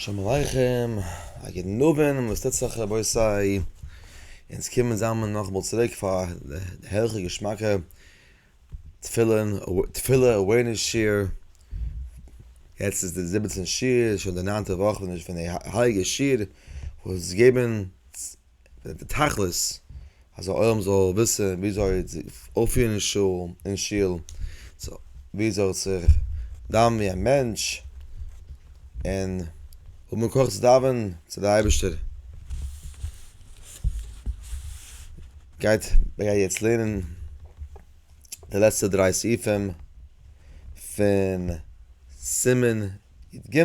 שלום עליכם, א גוטן אווענט און וואס טוט זיך רבותי, אונז קומען זאמען נאכאמאל צוריק פאר די הערליכע געשמאקע תפילין תפילה אווערנעס שיעור, יעצט איז די זיבעצן שיעור, שוין די ניינטע וואך פון די הייליגע שיעור וואס געבן די תכלית אז די עולם זאל וויסען וויאזוי אויפירען אין שול אין שול וויאזוי זיך דאווענען ווי א מענטש און האבען כח צו דאווענען צו די אייבישטער גייט מ'גייט יעצט לערנען די לעצטע דריי סעיפים פון סימן י ג.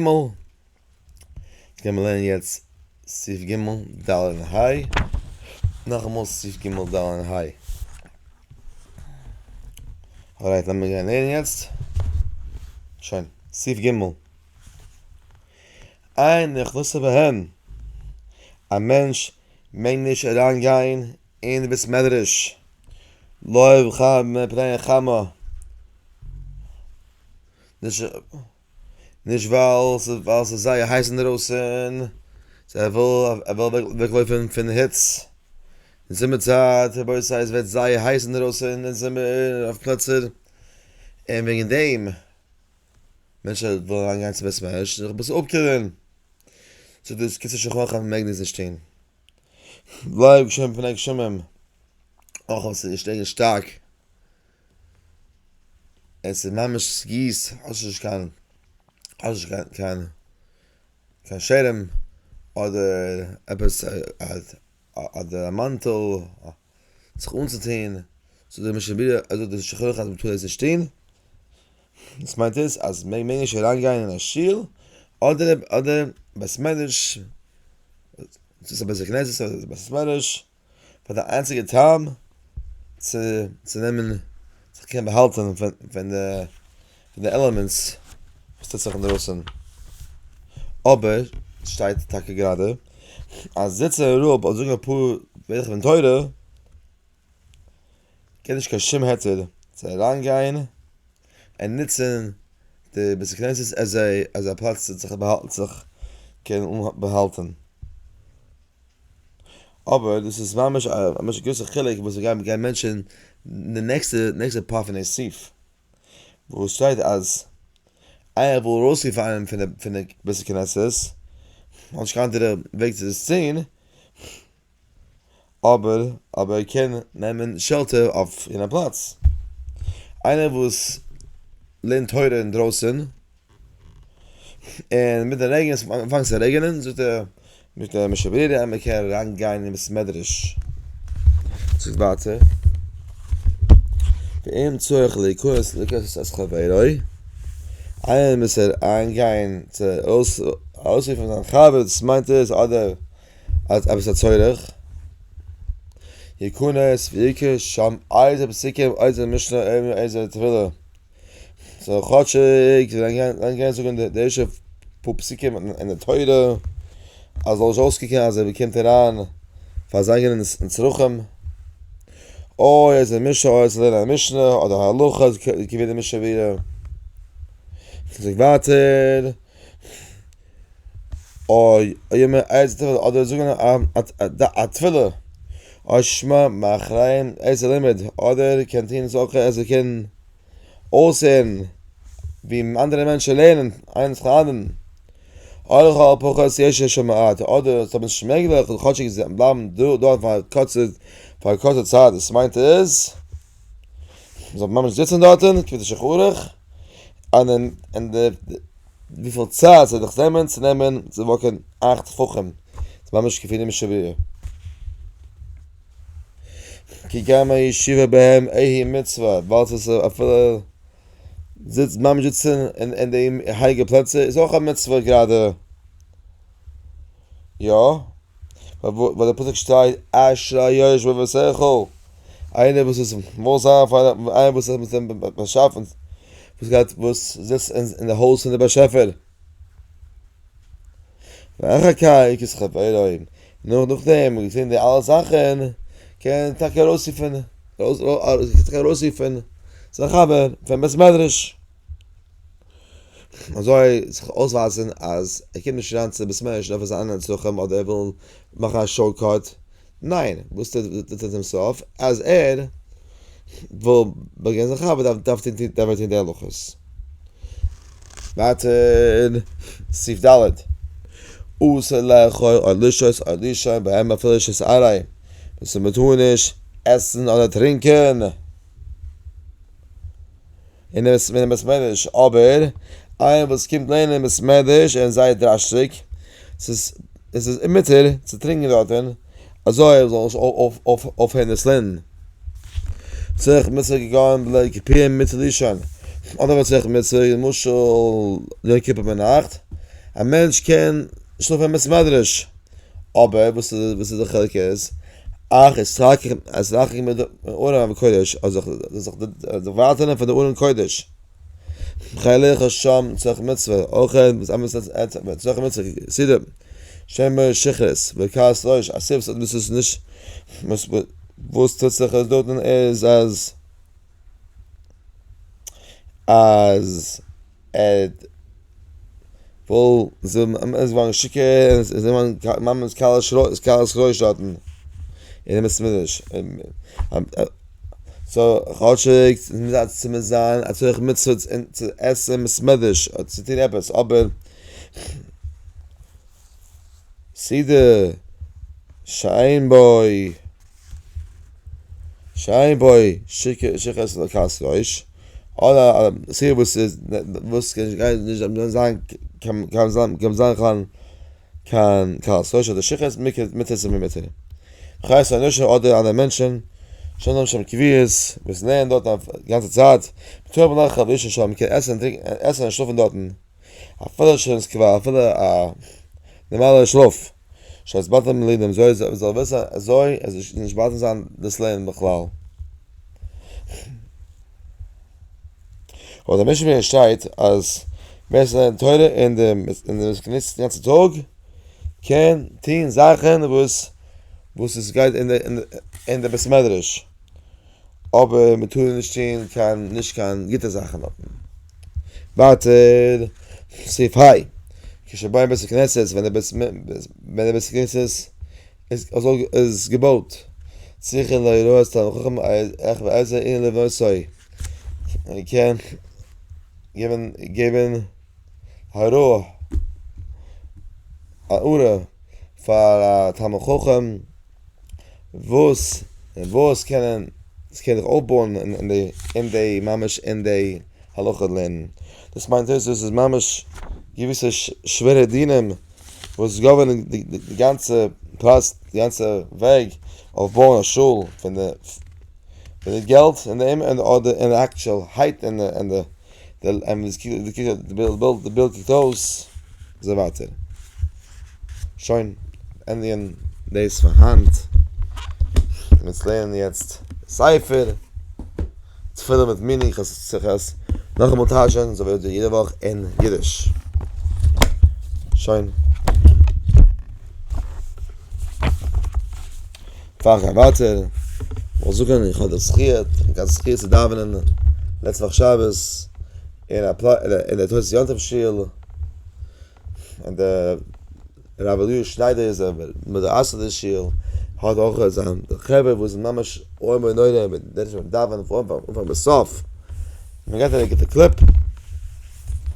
קען מען לערנען יעצט סעיף ג' ד' און ה', נאכאמאל סעיף ג' ד' און ה'. אלרייט לאמיר גיין לערנען יעצט, שוין, סעיף ג'. עיין נכנסה בהן, א מענטש מעג נישט אריין גיין אין די בית מדרש לא יבחר מפני חמה, נישט. נישט ווייל ווייל ס'איז זייער הייס אינדערויסען, סא ער וויל ער וויל אוועק לויפען פין היץ, אין זומער צייט רבותי עס ווערט זייער הייס אינדערויסען אין זומער אויף פלעצער, אין וועגען דעם מענטשען ווילען אריין גיין צו בית המדרש זיך אביסעל אפקילען, זאגט דאס קיצור שולחן ערוך אז מען מעג דאס נישט טוהן, לייב גשמים פני גשמים, אויך אויב ס'איז נישט רעגענט שטארק. עס איז ממש סגיס האסט נישט קיין האסט נישט קיין קיין קיין שערעם אדער עפעס אדער א מאנטעל זיך אנצוטוהן זאגט דער משנה ברורה אזוי זאגט דער שולחן ערוך אז מען טאר דאס נישט טוהן וואס מיינט עס אז מען מעג נישט אריין גיין אין א שול אדער אדער בית מדרש צו ס'איז א בית הכנסת אדער בית מדרש פאר די איינציגע טעם צו נעמען זיך קענען באהאלטען פון די עלעמענטס וואס טוט זיך אינדרויסען, אבער שטייט טאקע גראדע אז זיצען אין רב און זאגען אפאר ווערטער פון תורה געט נישט קיין שום היתר צו אריין גיין און נוצען די בית הכנסת עז א פלאץ צו זיך קענען באהאלטען. אבער דאס איז ממש א ממש גרויסע חילוק וואס ווי גייען גייען מענטשען די נעקסטע נעקסטע פאר פון די סעיף וואו עס שטייט אז אייער וויל ארויסרופן איינעם פון די פון די בית הכנסת האט נישט קיין אנדערע וועג צו דאס טוהן אבער אבער ער קען נעמען שעלטער אויף אין א פלאץ איינער וואס לערנט תורה אינדרויסען און מיט די רעגן עס אנפאנגט צו רעגענען זאגט ער מיט א משא ברירה אז מען קען אריין גיין אין בית מדרש זאגט ווייטער ואין צורך להיכנס לכסות את חברו איינער מוז אריין גיין צו ארויס ארויסרופן זיין חבר דאס מיינט עס אדער אז עפעס א צורך יכנס ויקרא שם איזה פסוקים איזה משנה איזה תפילה סאו כאטשיג זיי וועלן גיין זאגן די ערשטע פאר פסוקים אין די תורה אז זאל נישט אויסקוקן אז ער באקומט אריין פאר זיין אינגעלן אין צרכים, אוי איז א משא אוי צו לערנען א משנה אדער א הלכה איז געווען די משא ווער ער זאגט ווייטער אוי יעמער אדער זאגן א תפילה אוי שמע מאחורי איזה לימוד אדער קען טוהן איז אויך אז ער קען אויסהערן ווי אנדערע מענטשן לערנען איינס פון אנדערן, אויך אויב האט ער פחות ישע ש מ אט אדער אויב עס איז נישט מעגליך זאל ער כאטשיג בלייבן דארט פאר א קורצע פאר א קורצע צייט דאס מיינט איז מען זאל ממש זיצן דארטן כפי שכרוך און און די וויפיל צייט ס'וועט דיך נעמען צו נעמען צו וואקן אכט טפחים ממש כפי נמשל ב ה. כי גם הישיבה בהם איהי מצוה, ווייל ס'איז אפילו זיצט ממש זיצן אין די הייליגע פלעצער איז אויך א מצוה גראדע. יא, ווייל די פסוק שטייט אשרי היושבים בבית היכל, איינער וואס איז וואויל זיין פאר איינער וואס האט באשאפן, וואס זיצט אין די הויז פון די באשעפער. ואחר כך איז חברים, נאר נאכדעם מ'האט געזען די אלע זאכן, קען מען טאקע ארויסרופן, קענסטו טאקע ארויסרופן זיין חבר פון בית מדרש, אזוי זיך אויסווייזן אז ער קומט נישט אריין צו בית מדרש נאר פאר זיינע צרכים אדער ער וויל מאכן א שארט קאט, ניין, וואס טוט ער צום סוף? אז ער וויל באגיין זיין חבר דארף ער טון די הלכות. ווייטער, סעיף ד', אסור לאכול או לשתות או לישון בהם אפילו שעות עראים, דאס איז מ'טאר נישט עסן אדער טרינקען. און עס ווערט אים ס'מעדריש אבער איינער וואס קומט לערנען אים ס'מעדריש און זייער דרש'דיג ס'איז עס איז אומ'יתר צו טרינקען דארטען אזוי ער זאל נישט אויפהערן עס לערנען. צוריך מוצאי געגאנגען בלע כ פורים מיט לישון אדער צוריך מוצאי למשל יום כיפור ביינאכט א מענטש קען שלאפען אין בית מדרש. אבער וואס איז די חילוק איז, אך אתרחק מהארון הקודש, אז איך זאל זיך דערווייטערן פון די ארון קודש, כדי לאכול שם צורך מצוה, אויך דאס עמערס צורך מצוה, כסדר, שמא שכרות וכעס ראש, א סיבה וואס איז נישט, וואס טוט זיך אז דארטן איז אז אז. עד וואלט זיי ממאס געווארן שיכור און זיי וואלטן ממש כלה שרוי שטאטן אין די מסמידעש. סאו כאטשיג ס'איז מוז א צומח זיין א צורך מצוה צו עסן מסמעדעש אדער צו טון עפעס אבער סידור שיין בוי. שאין בוי שיכות לקראת ראש, אדער א סיבה וואס איז וואס גייט נישט דארף זיין קיין זיין קיין קראת ראש אדער שיכות מיתה איז מיתה, חיות אנושה אדער אנדערע מענטשען שאין להם שם קביעות וואס לערנען דארט א גאנצע צייט, טוב לך חבושה שם מען קען עסן און טרינקען און עסן און שלאפן דארטן אפילו שוין ס'קוועל אפילו א נארמאלע שלאף. שזאלסט באטעמען די לידער אזוי אז עס זאל ווערן אזוי אז עס זאל נישט באדערן זיין דאס לערנען בכלל. אבער דער משנה ברורה שטייט אז ווער עס לערנט תורה און די וואס געניסט די גאנצע טאג קען טון זאכן וואס וואס עס גייט אין די אין די אין די בית מדרש. אבער מען טאר נישט טון קיין נישט קיין גוטע זאכן דארטן. ווייטער סעיף היי כשבאים בית הכנסת ווען די בית ווען די בית הכנסת איז איז געבויט צריכים להורות את המחותן איך ואיזה אין לבנותיו מען קען געבן געבן הוראה א הארה פאר א תלמיד חכם. וואס וואס קענען עס קען זיך אויפבויען אין די אין די ממש אין די הלכה לערנען דאס מיינט אויס אז עס איז ממש געוויסע שווערע דינים וואס גאווערנען די די גאנצע פראסט די גאנצע וועג אויף בויען א שול פון די פון די געלט און די און די אדער און די אקטשעל הייט און די. די בילד קוקט אויס אזוי ווייטער. שוין, ענדיגן דאס פאר היינט. אונז לערנען יעצט ספר תפילה מיט מיני, כ'עס נאכאמאל טייטשען אזוי ווי יעדע וואך אין אידיש. שוין. פאר איך גיי ווייטער, וויל איך זאגן איך האב די זכי', איך האב די זכי' צו דאווענען לעצטע וואך שבת אין א פלאץ, אין די תוס' יום טוב שול, און די רב אליהו שניידער איז דער מייסד די שול, האט אויך זיין חברה וואס זענען ממש איום ונורא מיט די דרשנים וואס דאווענען פון אנפאנג ביז סוף, מען געבט זיי א גוטע קלעפ,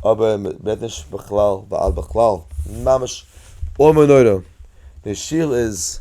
אבער מען רעדט נישט בכלל ועד בכלל, ממש איום ונורא, די שול איז.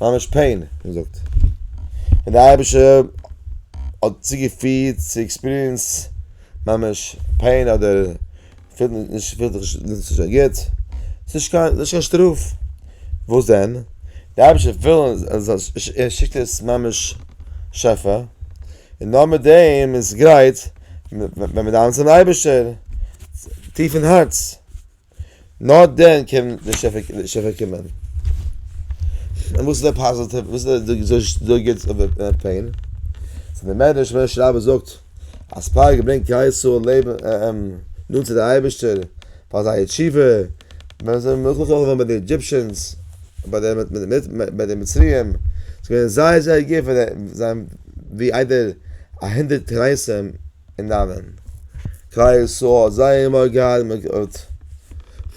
ממש פעין, און זאגט און די אייבישער האט צוגעפירט צו עקספיריענס ממש פעין אדער פילט נישט פילט זיך נישט אזוי גוט, ס'איז נישט קיין נישט קיין שטראף, וואס דען? די אייבישער וויל ער שיקט עס ממש שפע, און נאר מיט דעם איז גרייט ווען מיר דאווענען צום אייבישטער טיף אין הארץ. נאר דען קען די שפע קומען. און וואס איז די פאזיטיוו? וואס איז די די גוטס אויף די פעין? סא די מענטש ווען די רבי זאגט אז פארק ברענגט כלל ישראל לעבן נאנט צו די אייבערשטער פאר זייער תשובה ווען זיי זענען נאכגעלאפן געווארן ביי די עדזשיפשענס ביי די ביי די מצריים ס'איז געווען זייער זייער גוט פאר זיי זיי האבן ווי איידער א הונדערט קרייסען אין ארון כלל ישראל האט זייער מארגן געהאט מען האט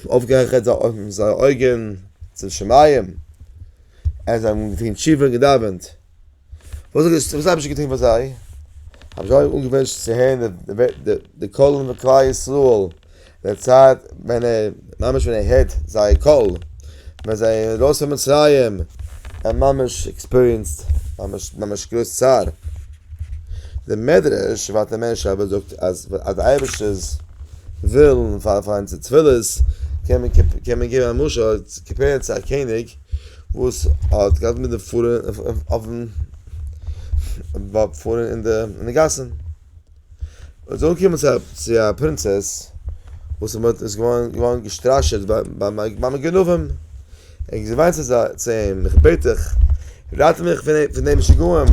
אויפגעהעכערט זייער אויגן צום שמים און זיי האבן געטון תשובה און געדאווענט, וואס האט וואס האט אייבערשטער געטון פאר זיי? האבן זיי אנגעוואונטשן צו הערן די קול פון כלל ישראל די צייט ווען ער ממש ווען ער הערט זייער קול ווען זיי זענען ארויס פון מצרים ער ממש עקספיריענסד ממש ממש גרויס צער די מדרש ותאמר שבת זאגט אז אז די אייבערשטער'ס ווילן פאר פאר אונזער תפילות קען מען קען מען געבן א משל קאמפעירן צו א קעניג וואס האט געהאט מיט די פארן אויפן פארן אין די אין די גאסן. מען איז אנגעקומען צו א פרינצעס וואס מען איז געווארן געסטראשעט ביים גנבים, און זי וויינט צו אים, איך בעט דיך, רייט מיך פון די משוגעים,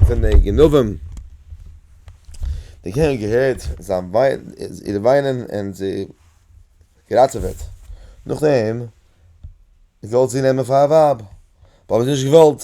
פון די גנבים. דער קעניג האט געהערט זיין איר וויינען און זי געראטעוועט, נאכדעם האט ער געוואלט זי נעמען פאר א ווייב, אבער זי האט נישט געוואלט.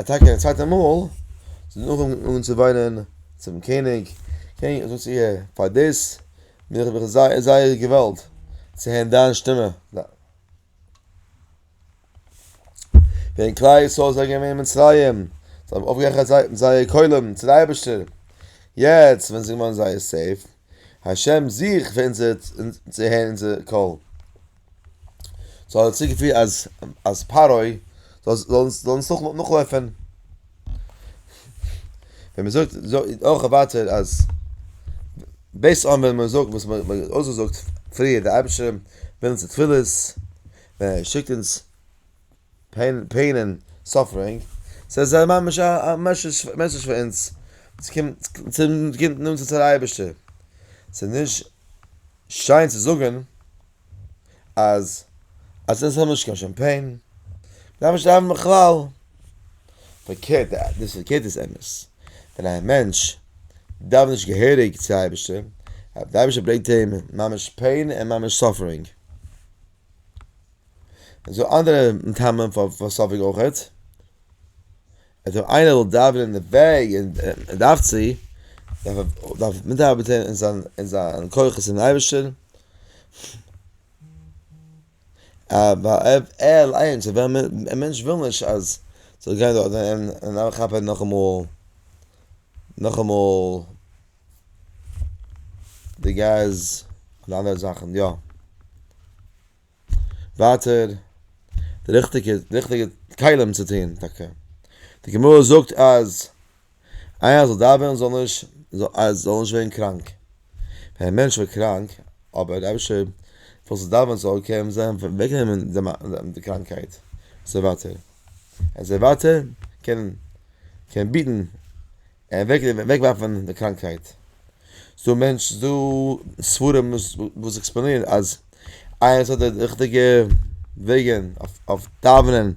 א טאקע א צווייטע מאל זי איז אנגעהויבן אן צו וויינען צום קעניג, קעניג זאגט צו איר פאר דאס בין איך מיך זייער זייער געוואלט צו הערן דיין שטימע, ווען כלל ישראל זענען געווען אין מצרים זיי האבן אויפגעהעכערט זייער קולות צו די אייבערשטער, יעצט ווען זיי זענען געווארן זייער סעיף. השם זיך ווענדט צו הערן אונזער קול. זאל ער צוגעפירן אז אז פרעה זאל זאל אונז נאכלויפען. ווען מען זאגט זאגט אויך ווייטער אז בית א ווען מען זאגט וואס מען האט אויסגעזאגט פריער די אייבערשטער וויל אונזער תפילות ווען ער שיקט אונז פעין און סאפרינג, סאיז ממש א מעסעדזש פאר אונז, צונעמט אונז צו די אייבערשטער, סאיז נישט שיין צו זאגען אז אז עס האט נישט קיין שום פעין, דארף נישט דאווענען בכלל, פארקערט דאס פארקערט איז אמת, ווען א מענטש דאווענט נישט געהעריג צו אייבערשטער, די אייבערשטער ברענגט אים ממש פעין און ממש סאפרינג. און ס'דא אנדערע מטעמים פאר פאר ספק אויכעט. אז אויב איינער וויל דאווענען אין די וועג און און דארף צו, דארף ער דארף ער מיטארבעטען אין זיין אין זיין כוחות אינעם אייבערשטען. ער אליינס אויב ווען מען א מענטש וויל נישט אז ס'זאל גיין דארט און און אריין כאפען נאכאמאל נאכאמאל די געז און אנדערע זאכען יא. ווייטער די ריכטיגע ריכטיגע כלים צו טון טאקע די גמרא זאגט אז איינער זאל דאווענען זאל נישט אז זאל נישט ווערן קראנק ווען א מענטש ווערט קראנק אבער דער אייבערשטער וויל צו דאווענען זאל קען אים זיי אוועקנעמען די קראנקייט אזוי ווייטער אזוי ווייטער קען קען ביטן אוועקווארפן די קראנקהייט. ס'דא מענטש, ס'דא ספרים וואס עקספלאנירן אז איינער וואס האט די ריכטיגע וועגן אויף דאווענען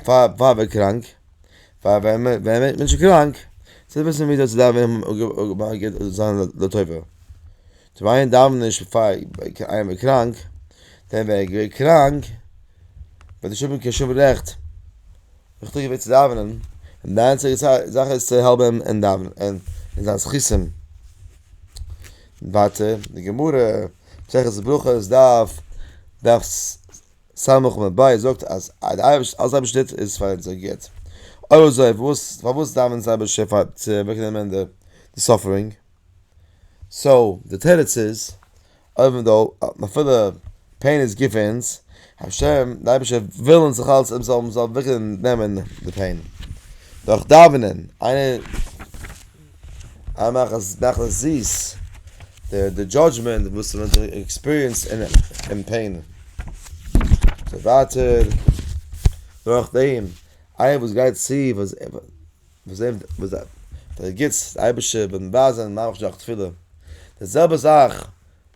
פאר פאר מ'ווערט קראנק, פאר ווען מען ווערט מענטשן קראנק, זיי וויסן ווי אזוי צו דאווענען זיין לטובה. צווייען דאווענען נישט פאר איינעם איז קראנק, דען ווען ער איז געווען קראנק וועט נישט האבן קיין שום רעכט זיך צוריק געבען צו דאווענען, און די איינציגע זאך איז צו העלפן אים אין דאווענען אין זיין זכותים. ווייטער די גמרא, מסכת ברכות דף דף ס א עמוד ב זאגט אז אלעס אייבישטער טוט איז פאר אונזער גוט, אויב אזוי פארוואס דאווענען אונז אייבישטער פאר צו אוועקנעמען די סאפערינג? סאו די תירוץ איז אויבנדא אז אפילו פעין איז גוט פאר אונז, השם די אייבישטער וויל אונז דאך אלץ אונז זאלן וויכער נעמען די פעין דורך דאווענען, איינער מאכט אז מאכט עס זיס די דזשאדזשמענט וואס מען האט עקספיריענסד אין פעין, ווייטער נאכדעם איינער וואס גייט צו. וואס זעהן מיר וואס דער דער גוטס דער אייבערשטער וועט מבאר זיין מיין מחשבה דורך תפילה, די זעלבע זאך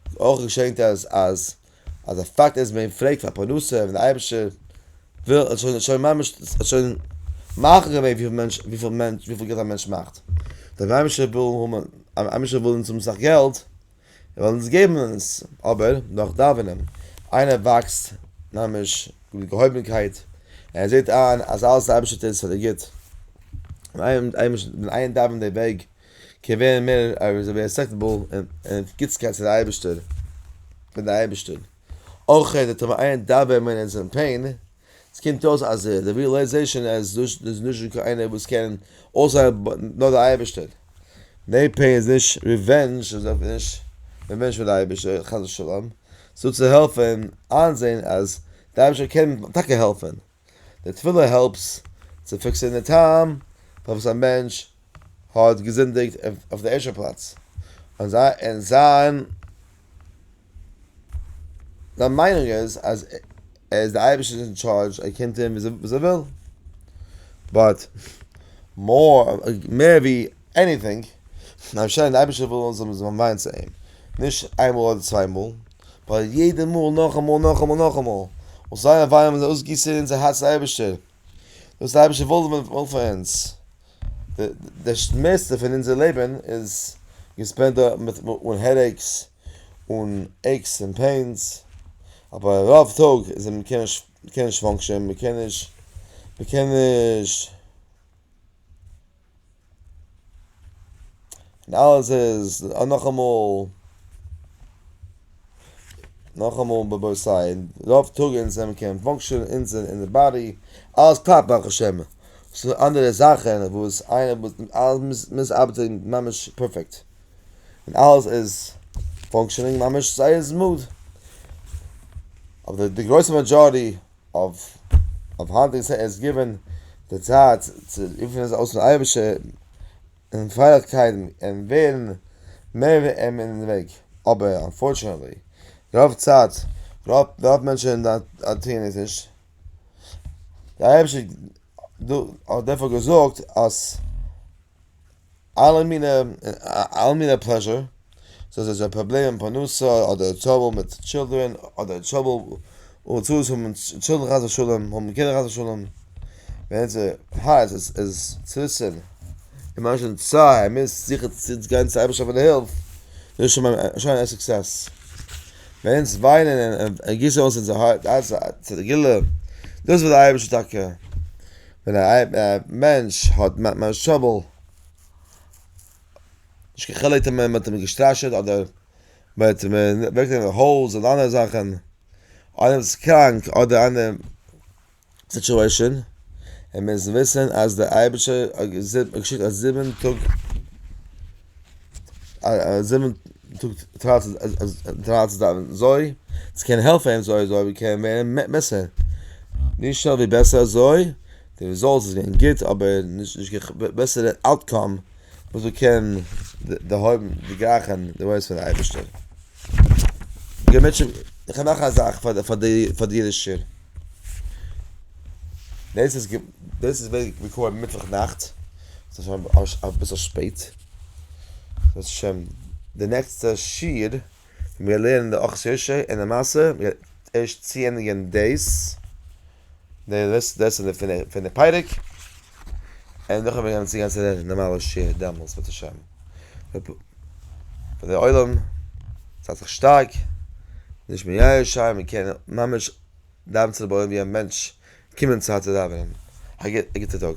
איז אויך געשען אז אז אז די פאקט אז מען פרעגט פאר פרנסה און דער אייבערשטער וויל האט שוין שוין ממש האט שוין מחליט געווען וויפיל מענטש וויפיל מענטש וויפיל געלט א מענטש מאכט, דער אייבערשטער וויל האבן א אייבערשטער וויל אונז האבן אסאך געלט זיי וועלן אונז געבן עס, אבער נאך דאווענען, איינער וואקסט ממש מיט געהויבנקייט, ער זעט איין אז אלעס אייבערשטער טוט עס פאר די גוט, ווען איינער דאווענט די וועג קען ווערן מער רעספעקטעבל און גוטסקייט צו די אייבערשטער, פון די אייבערשטער, אויך איינער דאווען ווען ער איז אין פעין. ס'קומט אויס אז די ריעלייזעישאן אז דא איז נישט דא קיין איינער וואס קען אויסער נאר דער אייבערשטער. די פעין איז נישט ריווענזש און אויך נישט ריווענזש פאר די אייבערשטער חס ושלום, ס'איז דא צו העלפען איינזעהן אז די אייבערשטער קען טאקע העלפען. די תפילה העלפס צו פיקסען די טעם פארוואס א מענטש האט געזינדיגט אויף די ערשטע פלאץ, און זיין זיין מיינונג איז אז ער איז די אייבערשטער'ס אין טשארדזש ער קען טון וואס ער וויל, באט מער ווי עניטינג ווייל שוין די אייבערשטער וויל אונז זאלן וויין צו אים, נישט איינמאל אדער צוויי מאל, באט יעדע מאל נאכאמאל נאכאמאל נאכאמאל, און זייער וויין וואס זיי אויסגיסן אין אונזער הארצן אייבערשטער, דאס איז אייביג געוואלט ווען וואלט פאר אונז די די מערסטע פון אונזער לעבן איז געספענדט דא מיט אן העדעיקס און עיקס און פעינס אבער רוב טאג איז מען קען נישט מ'קען נישט פאנקשען מ'קען נישט מ'קען נישט. און אלעס איז נאכאמאל נאכאמאל ביי בית סיי רוב טאג אונז זעמיר קען פאנקשענען אונז אין די באדי אלעס קלאפט ברוך השם ס'דא אנדערע זאכן וואס איינער וואס מוז ארבעטן ממש פערפעקט און אלעס איז פאנקשענינג ממש זייער סמאד אבער די גרויסע מעדזשארעטי אויף היינט איז עס געווען די צייט צו רופן עס אויס צום אייבערשטער און פרייליכקייטן און ווערן מער ווי אים אין וועג, אבער אנפארטשענעטלי רוב צייט רוב מענטשן טוען עס נישט, דער אייבערשטער האט דערפאר געזאגט אז. אלע מינע אלע מינע פלעזשער, סאיז אזא פראבלעם אין פרנסה אדער טראבל מיט טשילדרען אדער טראבל הוצאות פון טשילדרען חס ושלום האבן קינדער חס ושלום ווען עס הייסט עס איז צוריסען און מ'האט שוין צער מ'מוז זיכער צו גיין צו אייבערשטער פאר די הילף דאס איז שוין שוין א סוקסעס ווען אונז וויינען און גיסן אויס אונזער הארץ אונזער גילו דאס וויל די אייבערשטער טאקע. ווען א מענטש האט משהבעל נישט קיין חילוק אויב מען האט אים געסטראשעט אדער מען האט אים אוועק גענומען די הויז אדער אנדערע זאכן אדער איז קראנק אדער אנדערע סיטואשען און מען מוז וויסן אז דער אייבערשטער האט געשיקט א זיבן טאג זיבן טאג טרייט צו דאווענען אזוי, עס קען העלפן אזוי אזוי ווי קען ווערן בעסער, נישט שוין ווי בעסער אזוי, די רעזאלטס איז געווען גוט אבער נישט בעסערע אוטקאם וואס מען קען דערהויבן דערגרייכן די וואויס פון אייבערשטער. איך האב נאך א זאך פאר די אידישער. דאס איז דאס איז ווען מיר קומען מיטוואך נאכט, ס'איז שוין אביסל שפעט, ס'איז שוין די נעקסטע שיעור ווען מיר לערנען די אכז יושע און למעשה מיר ערשט צוענדיגן דאס, דאס איז די פינעף פינעף פרק. און נאכדעם וועט מען צוגיין צו די נארמאלע שיעור דעמאלטס בעז השם. פאר די עולם זייט זיך שטארק, נישט מייאש זיין, מען קען ממש דאווען צו די בורא ווי א מענטש קומען צו הארצע דאווענען. א גוטע טאג.